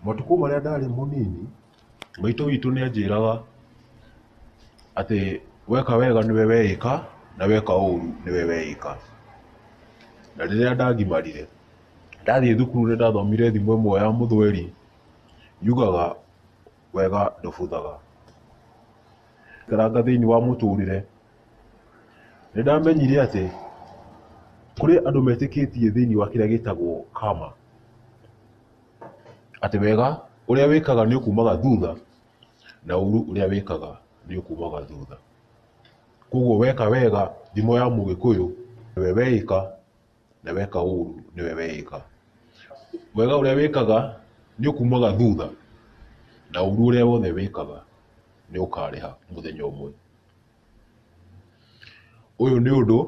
Matukũ marĩa ndarĩ mũnini, maitũ witũ nĩ anjĩraga atĩ weka wega nĩwe weĩka na weka ũru nĩwe weĩka. Na rĩrĩa ndagimarire, ndathiĩ thukuru nĩ ndathomire thimo ĩmwe ya mũthweri yugaga wega ndũbuthaga. Ngĩikaranga thĩinĩ wa mũtũrĩre. Nĩ ndamenyire atĩ kũrĩ andũ metĩkĩtie thĩinĩ wa kĩrĩa gĩtagwo karma, atĩ wega ũrĩa wĩkaga nĩ ũkumaga thutha na ũru ũrĩa wĩkaga nĩ ũkumaga thutha. Koguo weka wega thimo ya mũgĩkũyũ nĩwe weĩka. na weka ũru nĩwe weĩka. Wega ũrĩa wĩkaga nĩ ũkumaga thutha na ũru ũrĩa wothe wĩkaga nĩ ũkarĩha mũthenya ũmwe. Ũyũ nĩ ũndũ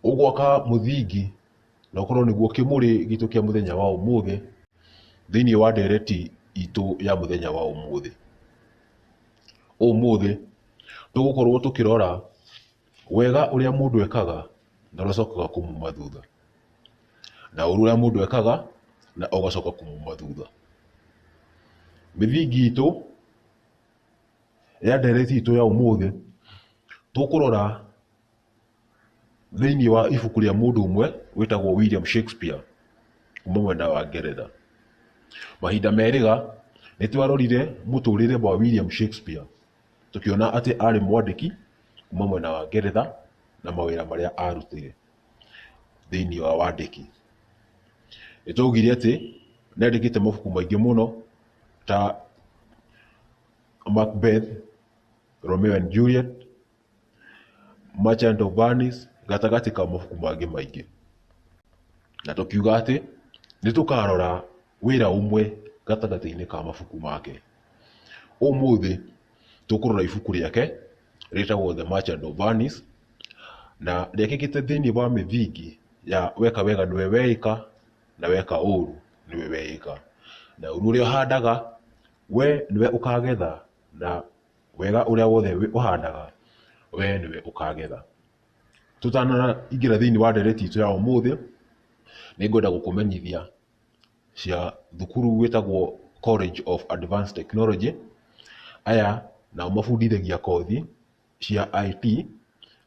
ũgwaka mũthingi na ũkorwo nĩguo kĩmũrĩ gitũ kĩa mũthenya wa ũmũthĩ thĩiniĩ wa ndereti itũ ya mũthenya wa ũmũthĩ. Ũmũthĩ tũgũkorwo tũkĩrora... Wega ũrĩa mũndũ ekaga na ũrĩa ũcokaga kũmuma thutha, na ũru ũrĩa mũndũ ekaga na ũgacoka kũmuma thutha. Mĩthingi itũ ya ndeereti itũ ya ũmũthĩ, tũkũrora thĩinĩ wa ibuku rĩa mũndũ ũmwe wĩtagwo William Shakespeare kuuma mwena wa Ngeretha. Mahinda merĩga, nĩ twarorire mũtũrĩre wa William Shakespeare. Tũkĩona atĩ arĩ mwandĩki kuma mwena wa Ngeretha na mawĩra marĩa arutire thĩinĩ wa wandĩki. Nĩ twaugire atĩ nĩ andĩkĩte mabuku maingĩ mũno ta Macbeth, Romeo and Juliet, Merchant of Venice gatagatĩ ka mabuku mangĩ maingĩ. Na tũkiuga atĩ nĩ tũkarora wĩra ũmwe gatagatĩ-inĩ ka mabuku make. Ũmũthĩ tũkũrora ibuku rĩake rĩtagwo The Merchant of Venice na rĩekĩkĩte thĩinĩ wa mĩthingi ya weka wega nĩwe weĩka na weka ũru nĩwe weĩka. Na ũru ũrĩa ũhandaga we nĩwe ũkagetha na wega ũrĩa wothe ũhandaga we nĩwe ũkagetha. Tũtanaingĩra thĩinĩ wa ndeereti itũ ya ũmũthĩ, nĩ ngwenda gũkũmenyithia cia thukuru wĩtagwo College of Advanced Technology. Aya nao mabundithagia kothi cia IT,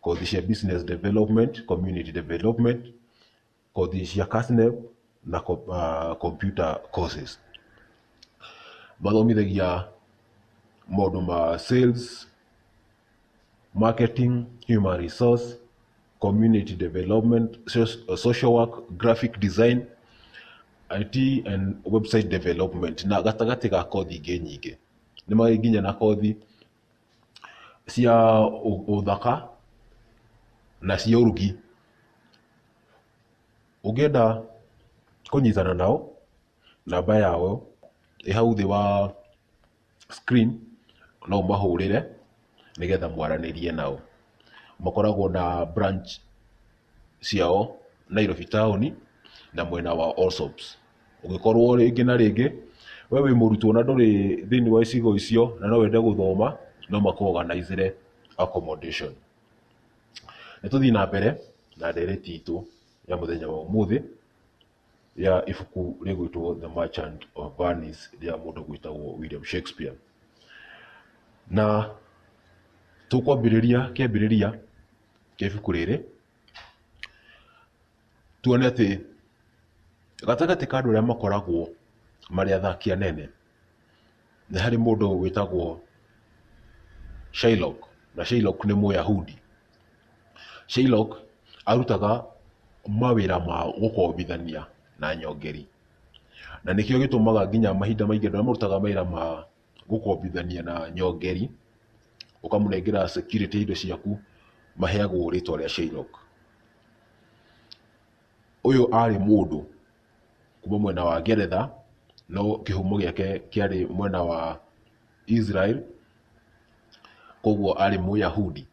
kothi cia Business Development, Community Development, kothi cia KASNEB na co- ah, Computer Courses. Mathomithagia maũndũ ma sales, marketing, human resource, community development, so- social work, graphic design, IT and website development na gatagatĩ ga kothi ingĩ nyingĩ nĩ marĩ nginya na kothi cia ũ- ũthaka na cia ũrugi ũngĩenda kũnyitana nao namba yao ĩ hau thĩ wa screen no ũmahũrĩre nĩgetha mwaranĩrie nao. Makoragwo na branch ciao Nairobi taũni na mwena wa Allsops. Ũngĩkorwo rĩngĩ na rĩngĩ we wĩ mũrutwo na ndũrĩ thĩinĩ wa icigo icio na no wende gũthoma no makũ organize re accommodation. Nĩ tũthiĩ na mbere na ndereti itũ ya mũthenya wa ũmũthĩ. ya ibuku rĩgwĩtwo The Merchant of Venice rĩa mũndũ gwĩtagwo William Shakespeare. Na tũkwambĩrĩria kĩambĩrĩria kĩa ibuku rĩrĩ tuone atĩ gatagatĩ ka andũ arĩa makoragwo marĩ athaki anene nĩ harĩ mũndũ wĩtagwo Shylock, na Shylock nĩ mũyahudi. Shylock arutaga mawĩra ma gũkombithania na nyongeri, na nĩkĩo gĩtũmaga nginya mahinda maingĩ andũ arĩa marutaga mawĩra ma gũkombithania na nyongeri, ũkamũnengera security ya indo ciaku, maheagwo rĩtwa rĩa Shylock. Ũyũ arĩ mũndũ. kuma mwena wa Ngeretha, no kĩhumo gĩake kĩarĩ mwena wa Israel, koguo arĩ Mũyahudi,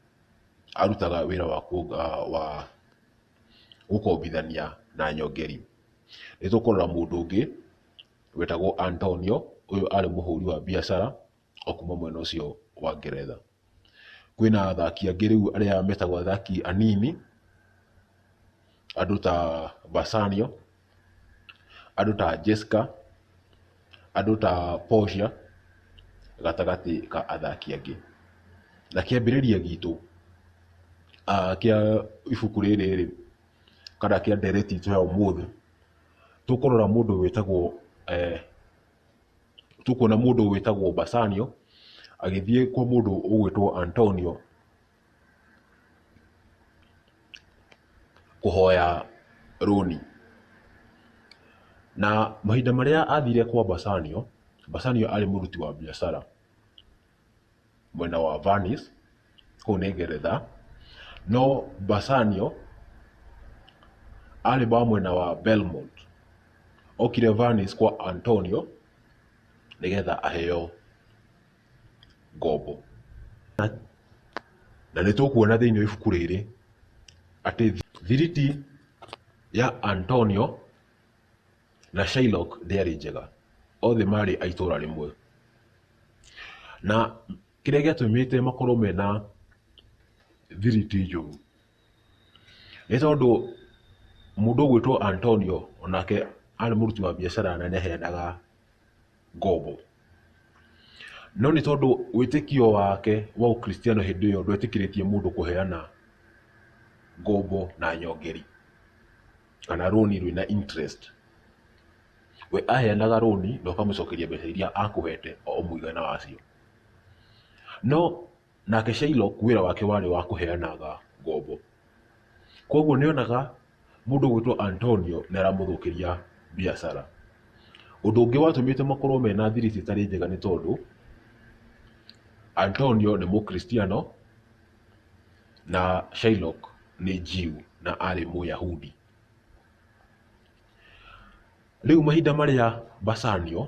arutaga wĩra wa wa gũkombithania na nyongeri. Nĩ tũkũrora mũndũ ũngĩ wetagwo Antonio, ũyũ arĩ mũhũri wa biacara. o kuma mwena ũcio wa Ngeretha. Kwĩna athaki angĩ rĩu arĩa metagwo athaki anini, andũ ta Bassanio, andũ ta Jesca, andũ ta Portia, gatagatĩ ka athaki angĩ. Na kĩambĩrĩria gitũ kĩa ibuku rĩrĩ rĩ, kana kĩa ndeereti itũ ya ũmũthĩ, tũkũrora mũndũ wĩtagwo Tũkuona mũndũ wĩtagwo Basanio agĩthiĩ kwa mũndũ ũgwĩtwo Antonio kũhoya rũni. Na mahinda marĩa athire kwa Basanio, Basanio arĩ mũruti wa biacara. mwena wa Venice, kũu nĩ Ngeretha, no Bassanio arĩ wa mwena wa Belmont. Okire Venice kwa Antonio nĩgetha aheo ngombo. Na nĩ tũkuona thĩinĩ wa ibuku rĩrĩ atĩ thiriti ya Antonio na Shylock ndĩarĩ njega, othe marĩ a itũũra rĩmwe. Na kĩrĩa gĩatũmĩte makorwo mena thiriti njũru, nĩ tondũ mũndũ ũgwĩtwo Antonio onake arĩ mũruti wa biacara na nĩ aheanaga ngombo. No nĩ tondũ wĩtĩkio wake wa ũkristiano hĩndĩ ĩyo ndwetĩkĩrĩtie mũndũ kũheana ngombo na nyongeri. kana rũni rwĩna interest. We aheanaga rũni na ũkamũcokeria mbeca iria akũhete o mũigana wacio. No nake Shylock wĩra wake warĩ wa kũheanaga ngombo. Kwoguo nĩ onaga mũndũ ũgwĩtwo Antonio nĩ aramũthũkĩria biacara. Ũndũ ũngĩ watũmĩte makorwo mena thiri citarĩ njega nĩ tondũ Antonio nĩ Mũkristiano. Na Shylock nĩ Jew na arĩ Mũyahudi. Rĩu mahinda marĩa Bassanio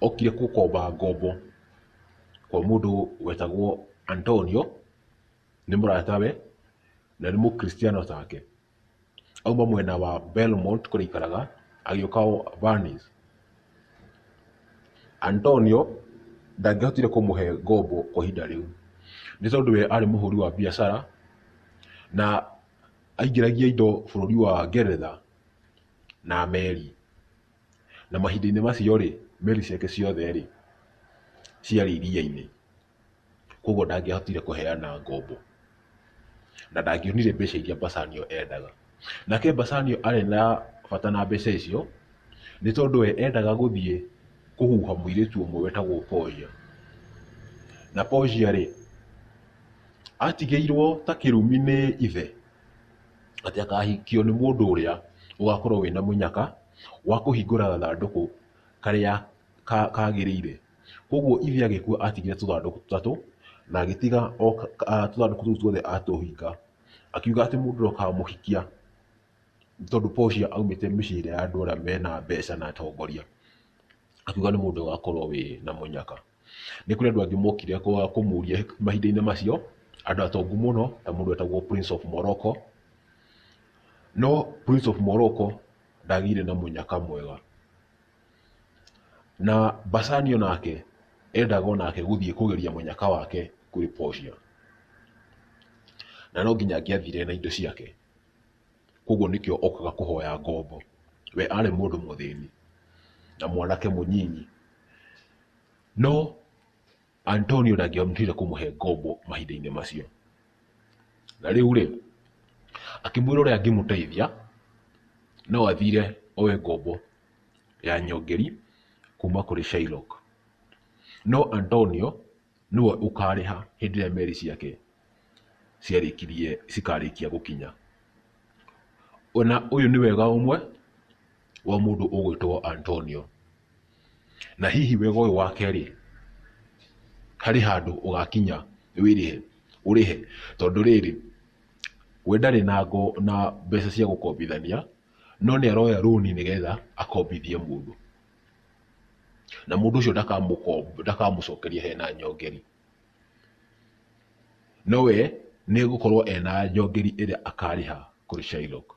okire gũkomba ngombo kwa mũndũ wetagwo Antonio, nĩ mũratawe na nĩ Mũkristiano take. auma mwena wa Belmont kũrĩa aikaraga agĩũka Venice. Antonio ndangĩahotire kũmũhe ngombo kwa ihinda rĩu nĩ tondũ we arĩ mũhũri wa biacara na aingĩragia indo bũrũri wa Ngeretha na meri. Na mahinda-inĩ macio rĩ, meri ciake ciothe rĩ, ciarĩ iria-inĩ. koguo ndangĩahotire kũheana ngombo, na ndangĩonire mbeca iria Bassanio endaga. Nake Bassanio arĩ na bata na mbeca icio, nĩ tondũ we endaga gũthiĩ kũhuha mũirĩtu ũmwe wetagwo Portia. Na Portia rĩ, atigĩirwo ta kĩrumi nĩ ithe, atĩ akahikio nĩ mũndũ ũrĩa ũgakorwo wĩna mũnyaka wa kũhingũra gathandũkũ karĩa kagĩrĩire. Koguo ithe agĩkua atigire tũthandũkũ tũtatũ, na agĩtiga o tũthandũkũ tũu tuothe atũhinga. Akiuga atĩ mũndũ ũrĩa ũkamũhikia, tondũ Portia aumĩte mĩciĩ ĩrĩa ya andũ arĩa mena mbeca na atongoria, akiuga nĩ mũndũ ũgakorwo wĩ na mũnyaka. Nĩ kũrĩ andũ angĩ mokire kũmũria mahinda-inĩ macio, andũ atongu mũno ta mũndũ wetagwo Prince of Morocco, no Prince of Morocco ndagĩire na mũnyaka mwega. Na Basani o nake endaga o nake gũthiĩ kũgeria mũnyaka wake kũrĩ Portia, na no nginya angĩathire na indo ciake, koguo nĩkĩo okaga kũhoya ngombo. We arĩ mũndũ mũthĩni na mwanake mũnyinyi, no Antonio ndangĩahotire kũmũhe ngombo mahinda-inĩ macio. Na rĩu rĩ, akĩmwĩra ũrĩa angĩmũteithia no athire oe ngombo ya nyongeri kuma kũrĩ Shylock. No Antonio nĩwe ũkarĩha hĩndĩ ĩrĩa meri ciake ciarĩkirie cikarĩkia gũkinya. Ona ũyũ nĩ wega ũmwe wa mũndũ ũgwĩtwo Antonio. Na hihi wega ũyũ wake rĩ, harĩ handũ ũgakinya wĩrĩhe, ũrĩhe, tondũ rĩrĩ, we ndarĩ na ngo, na mbeca cia gũkombithania, no nĩ aroya rũni nĩgetha akombithie mũndũ. Na mũndũ ũcio ndakamũkomba, ndakamũcokeria hena nyongeri. No we nĩ egũkorwo ena nyongeri ĩrĩa akarĩha kũrĩ Shylock.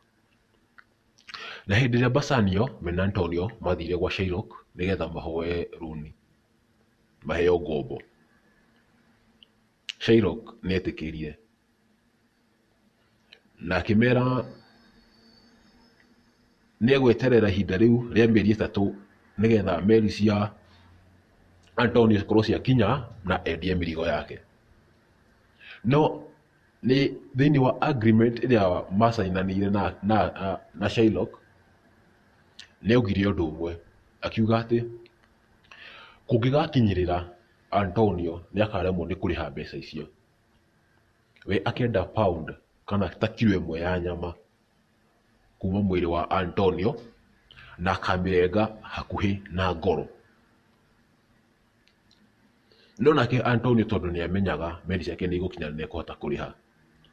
Na hĩndĩ ĩrĩa Bassanio me na Antonio mathire gwa Shylock nĩgetha mahoe rũni, maheo ngombo, Shylock nĩ etĩkĩrire na akĩmera nĩ egweterera ihinda rĩu rĩa mĩeri ĩtatũ nĩgetha meri cia Antonio cikorwo ciakinya na endie mĩrigo yake. No... nĩ thĩinĩ wa agreement ĩrĩa macainanĩire na na na Shylock, nĩ augire ũndũ ũmwe, akiuga atĩ kũngĩgakinyĩrĩra Antonio nĩ akaremwo nĩ kũrĩha mbeca icio, we akenda pound kana ta kiro ĩmwe ya nyama kuma mwĩrĩ wa Antonio, na akamĩrenga hakuhĩ na ngoro. No nake Antonio tondũ nĩ amenyaga meri ciake nĩ igũkinya na nĩ ekũhota kũrĩha,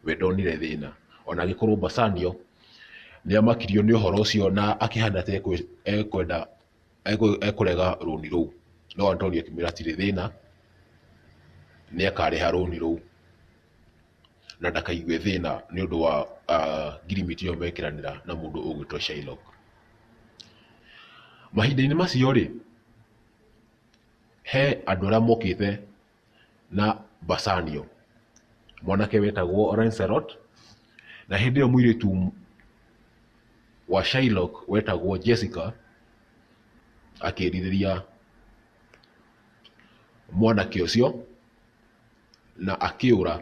we ndonire thĩna. Ona agĩkorwo Bassanio nĩ amakirio nĩ ũhoro ũcio na akĩhana ta ekwenda, ekũrega rũni rũu. No Antonio akĩmwĩra hatirĩ thĩna, nĩ akarĩha rũni rũu na ndakaigue thĩna nĩ ũndũ wa ngirimiti ĩyo mekĩranĩra na mũndũ ũgwĩtwo Shylock. Mahinda-inĩ macio rĩ, He andũ arĩa mokĩte na mbacanio, mwanake wetagwo Lancelot, na hĩndĩ ĩyo mũirĩtu wa Shylock wetagwo Jessica akĩrirĩria mwanake ũcio na akĩũra,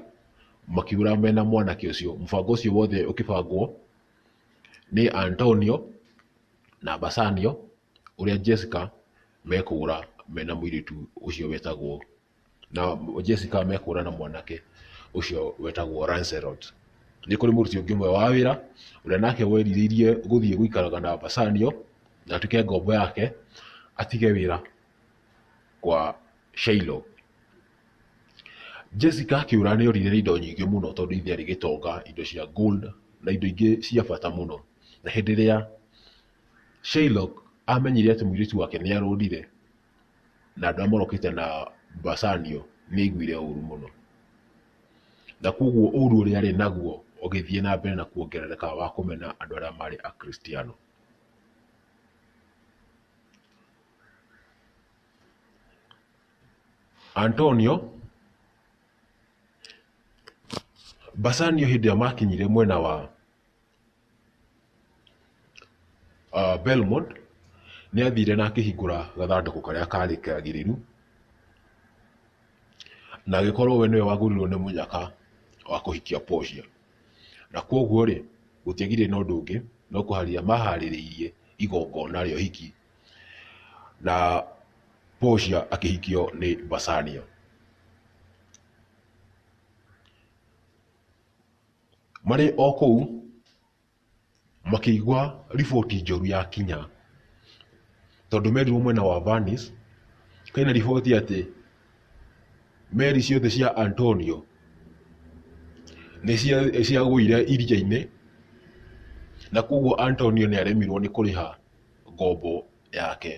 makĩũra mena mwanake ũcio. Mũbango ũcio wothe ũkĩbangwo nĩ Antonio na Bassanio. ũrĩa Jessica mekũgũra mena mũirĩtu ũcio wetagwo, na Jessica mekũgũra na mwanake ũcio wetagwo Lancelot. Nĩ kũrĩ mũruti ũngĩ ũmwe wa wĩra ũrĩa nake werirĩirie gũthiĩ gũikaraga na Bassanio na atuĩke ngombo yake atige wĩra kwa Shiloh. Jessica akĩũra nĩ orire nĩ indo nyingĩ mũno tondũ ithe arĩ gĩtonga, indo cia gold na indo ingĩ cia bata mũno. Na hĩndĩ ĩrĩa Shylock aamenyire atĩ mũirĩtu wake nĩ arũrire, na andũ arĩa morokĩte na Bassanio nĩ aiguire ũũru mũno. Na kwoguo ũũru ũrĩa arĩ naguo ũgĩthiĩ na mbere na kuongerereka wa kũmena andũ arĩa maarĩ Akristiano. Antonio, Bassanio hĩndĩ ĩrĩa maakinyire mwena wa Belmond nĩ athire na akĩhingũra gathandũkũ karĩa karĩ kagĩrĩru, na agĩkorwo we nĩwe wagũrirwo nĩ mũnyaka wa kũhikia Portia. Na koguo rĩ, gũtiagĩire na ũndũ ũngĩ no kũharĩrĩria maharĩrĩirie igongona rĩa ũhiki, na Portia akĩhikio nĩ Bassanio. Marĩ o kũu, makĩigua riboti njũru yakinya, tondũ merirwo mwena wa Venice kwĩna riboti atĩ meri ciothe cia Antonio nĩciagũire iria-inĩ, na kuoguo Antonio nĩaremirwo nĩ kũrĩha ngombo yake.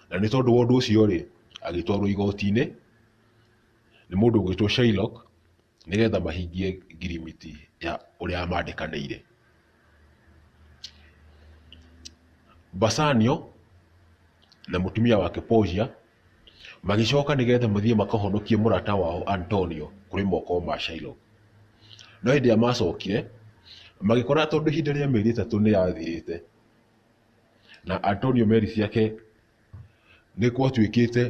Na nĩ tondũ wa ũndũ ũcio-rĩ, agĩtwarwo igoti-inĩ nĩ mũndũ ũgwĩtwo Shylock. nĩgetha mahingie ngirimiti ya ũrĩa mandĩkanĩire. Basanio na mũtumia wake Portia magĩcoka nĩgetha mathiĩ makahonokie mũrata wao Antonio kũrĩ moko ma Shilo. No hĩndĩ ĩrĩa macokire, magĩkora tondũ ihinda rĩa mĩeri ĩtatũ nĩ rĩathirĩte na Antonio meri ciake Nĩgwatuĩkĩte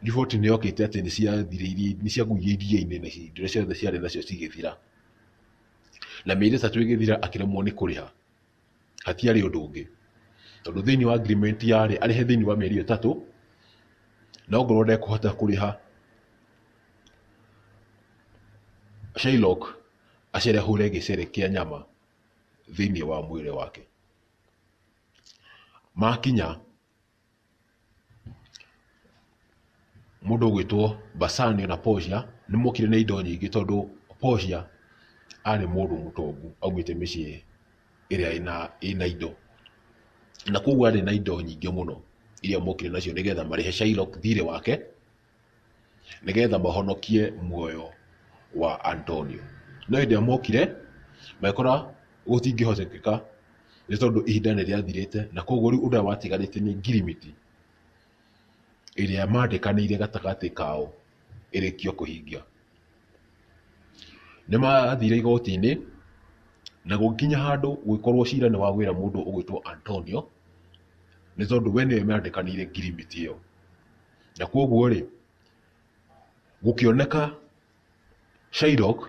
riboti nĩyokĩte atĩ nĩciagũire iria-inĩ na indo iria ciothe ciarĩ nacio cigĩthira. Na mĩeri ĩtatũ ĩgĩthira akĩremwo nĩ kũrĩha, hatiarĩ ũndũ ũngĩ, tondũ thĩiniĩ wa agreement yarĩ arĩhe thĩiniĩ wa mĩeri ĩyo ĩtatũ, na ongorwo ndekũhota kũrĩha, Shylock acerehũre gĩcere kĩa nyama thĩiniĩ wa mwĩrĩ wake. Makinya mũndũ ũgwĩtwo Basania na Portia nĩ mokire na indo nyingĩ tondũ Portia arĩ mũndũ mũtongu aumĩte mĩciĩ ĩrĩa ĩna ĩna indo. Na kwoguo arĩ na indo nyingĩ mũno iria mokire nacio nĩgetha marĩhe Shylock thirĩ wake nĩgetha mahonokie muoyo wa Antonio. No hĩndĩ ĩrĩa mokire, magĩkora gũtingĩhotekeka nĩ tondũ ihinda nĩ rĩathirĩte, na koguo rĩu ũndũ ũrĩa watigarĩte nĩ ngirimiti ĩrĩa mandĩkanĩire gatagatĩ kao ĩrĩkio kũhingia. Nĩ mathire igoti-inĩ, na gũgĩkinya handũ gũgĩkorwo cira nĩ wagwĩra mũndũ ũgwĩtwo Antonio, nĩ tondũ we nĩwe mandĩkanĩire ngirimiti ĩyo. Na kwoguo rĩ, gũkĩoneka Shylock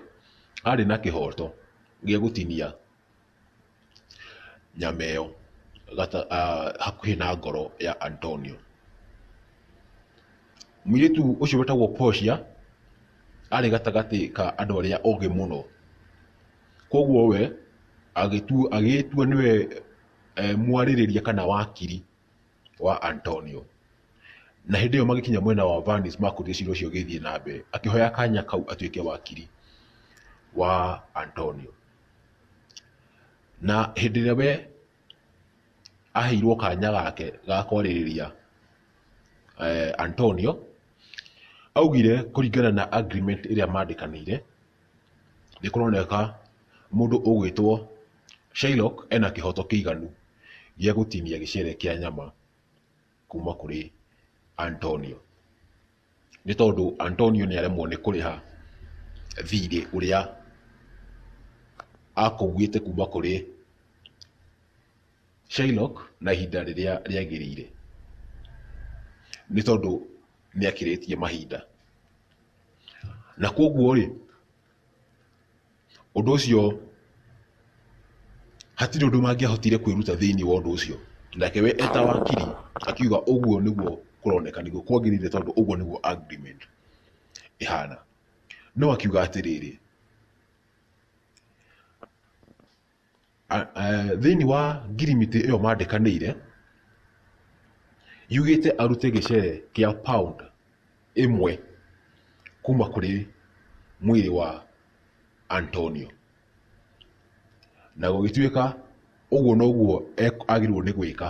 arĩ na kĩhoto gĩa gũtinia nyama ĩyo hakuhĩ na ngoro ya Antonio. Mũirĩtu ũcio wĩtagwo Portia arĩ gatagatĩ ka andũ arĩa ogĩ mũno. Kwoguo we agĩtua nĩwe mwarĩrĩria kana wakiri wa Antonio. Na hĩndĩ ĩyo magĩkinya mwena wa Vanis makũria cira ũcio ũgĩthiĩ na mbere, akĩhoya kanya kau atuĩke wakiri wa Antonio. Na hĩndĩ ĩrĩa we aheirwo kanya gake ga kwarĩrĩria eh, Antonio, augire kũringana na agreement ĩrĩa mandĩkanĩire, nĩkũroneka mũndũ ũgwĩtwo Shylock ena kĩhoto kĩiganu gĩa gũtinia gĩcere kĩa nyama kuma kũrĩ Antonio. Nĩ tondũ Antonio nĩ aremwo nĩ kũrĩha thirĩ ũrĩa akũwĩte kuma kũrĩ Shylock na ihinda rĩrĩa rĩagĩrĩire. Nĩ tondũ nĩ akĩrĩtie mahinda. Na koguo rĩ, ũndũ ũcio hatirĩ ũndũ mangĩahotire kwĩruta thĩinĩ wa ũndũ ũcio. Nake we eta wakiri akiuga ũguo nĩguo kũroneka nĩguo kwagĩrĩire tondũ ũguo nĩguo agreement ĩhana. No akiuga atĩrĩrĩ, Thĩinĩ wa ngirimiti ĩyo mandĩkanĩire, yugĩte arute gĩcere kĩa pound ĩmwe kuma kũrĩ mwĩrĩ wa Antonio. Na gũgĩtuĩka ũguo noguo agĩrĩirwo nĩ gwĩka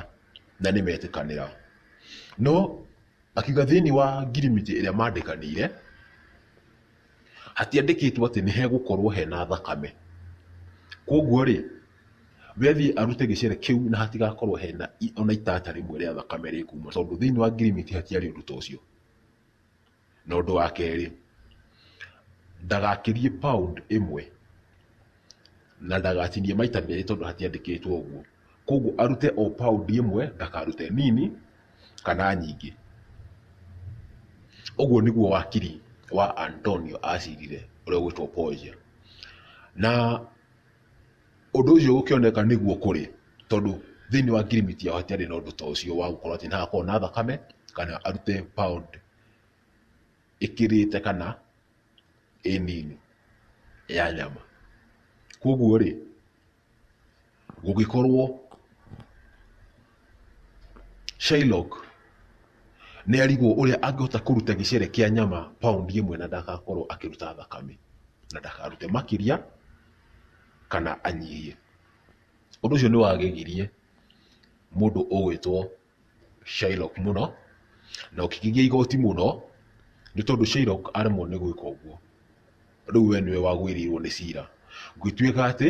na nĩ metĩkanĩra. No akiuga thĩinĩ wa ngirimiti ĩrĩa mandĩkanĩire... Hatiandĩkĩtwo atĩ nĩ hegũkorwo hena thakame. Kwoguo rĩ, we athiĩ arute gĩcere kĩu na hatigakorwo hena ona itata rĩmwe rĩa thakame rĩkuuma tondũ thĩinĩ wa ngirimiti hatiarĩ ũndũ ta ũcio. Na ũndũ wa kerĩ, ndagakĩrie pound ĩmwe na ndagatinie maita merĩ tondũ hatiandĩkĩtwo ũguo. koguo arute o pound ĩmwe ndakarute nini kana nyingĩ. Ũguo nĩguo wakiri wa Antonio acirire ũrĩa ũgwĩtwo Portia. Na ũndũ ũcio gũkĩoneka nĩguo kũrĩ tondũ thĩinĩ wa ngirimiti yao hatiarĩ na ũndũ ta ũcio wa gũkorwo atĩ nĩhagakorwo na thakame kana arute pound ĩkĩrĩte kana ĩ nini ya nyama. Koguo rĩ, Gũgĩkorwo Shylock nĩ arigwo ũrĩa angĩhota kũruta gĩcere kĩa nyama pound ĩmwe na ndagakorwo akĩruta thakame, na ndakarute makĩria kana anyihie. Ũndũ ũcio nĩ wagegirie mũndũ ũgwĩtwo Shylock mũno na ũkĩgigia igoti mũno nĩ tondũ Shylock aremwo nĩ gwĩka ũguo, rĩu we nĩwe wagũĩrĩirwo nĩ cira. Gũgĩtuĩka atĩ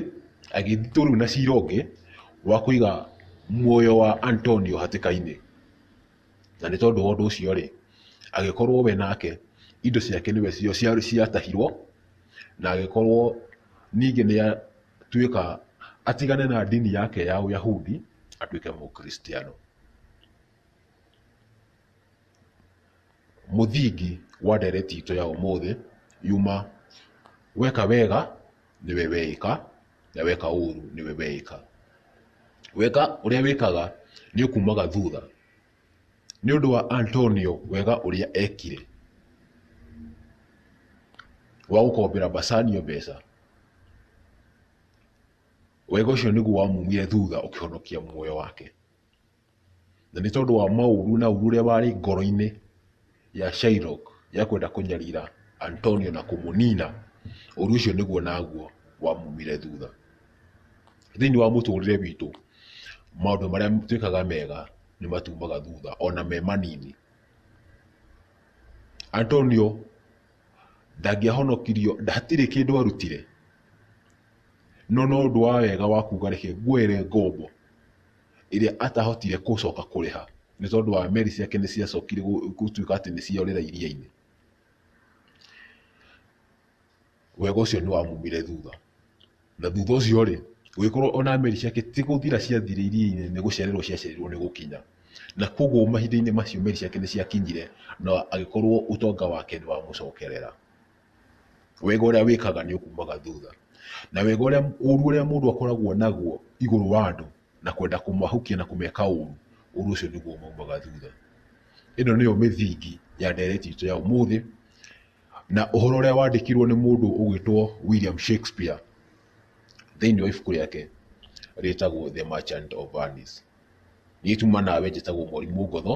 agĩthitwo rĩu na cira ũngĩ wa kũiga muoyo wa Antonio hatĩka-inĩ. Na nĩ tondũ wa ũndũ ũcio rĩ, agĩkorwo we nake indo ciake nĩwe ciatahirwo na agĩkorwo ningĩ nĩ tuĩka atigane na ndini yake ya Uyahudi atuĩke Mũkristiano. Mũthingi wa ndereti itũ ya ũmũthĩ yuma weka wega nĩwe weĩka na weka ũru nĩwe weĩka. Weka ũrĩa wĩkaga nĩ ũkumaga thutha Nĩ ũndũ wa Antonio wega ũrĩa ekire wa gũkombera Bassanio mbeca, wega ũcio nĩguo wamumire thutha ũkĩhonokia muoyo wake. Na nĩ tondũ wa maũru na ũru ũrĩa warĩ ngoro-inĩ. ya Shylock ya kwenda kũnyarira Antonio na kũmũnina, ũũru ũcio nĩguo naguo wamumire thutha. Thĩinĩ wa mũtũrĩre witũ, maũndũ marĩa twĩkaga mega nĩ matumaga thutha ona me manini. Antonio ndangĩahonokirio, hatirĩ kĩndũ arutire, no no ũndũ wa wega wa kuuga reke nguoere ngombo ĩrĩa atahotire gũcoka kũrĩha nĩ tondũ wa meri ciake nĩ ciacokire gũtuĩka atĩ nĩ ciorĩra iria-inĩ. Wega ũcio nĩ wamumire thutha. Na thutha ũcio rĩ, gũgĩkorwo ona meri ciake ti gũthira ciathire iria-inĩ nĩ gũcererwo ciacererirwo nĩ gũkinya. Na koguo mahinda-inĩ macio meri ciake nĩ ciakinyire na agĩkorwo ũtonga wake nĩ wamũcokerera. wega ũrĩa wĩkaga nĩ ũkumaga thutha. Na wega ũrĩa, ũũru ũrĩa mũndũ akoragwo naguo igũrũ wa andũ na kwenda kũmahukia na kũmeka ũũru, ũũru ũcio nĩguo ũmaumaga thutha. Ĩno nĩyo mĩthingi ya ndeereti itũ ya ũmũthĩ, na ũhoro ũrĩa wandĩkirwo nĩ mũndũ ũgwĩtwo William Shakespeare thĩiniĩ wa ibuku rĩake rĩtagwo The Merchant of Venice. Niĩ tuma nawe njĩtagwo Mwarimũ Ngotho.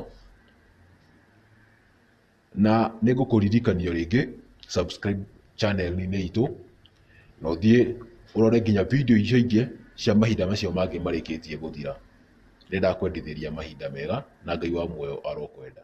Na nĩ ngũkũririkania o rĩngĩ subscribe channel-inĩ itũ na ũthiĩ ũrore nginya video icio ingĩ cia mahinda macio mangĩ marĩkĩtie gũthira. Nĩ ndakwendithĩria mahinda mega na Ngai wa muoyo arokwenda.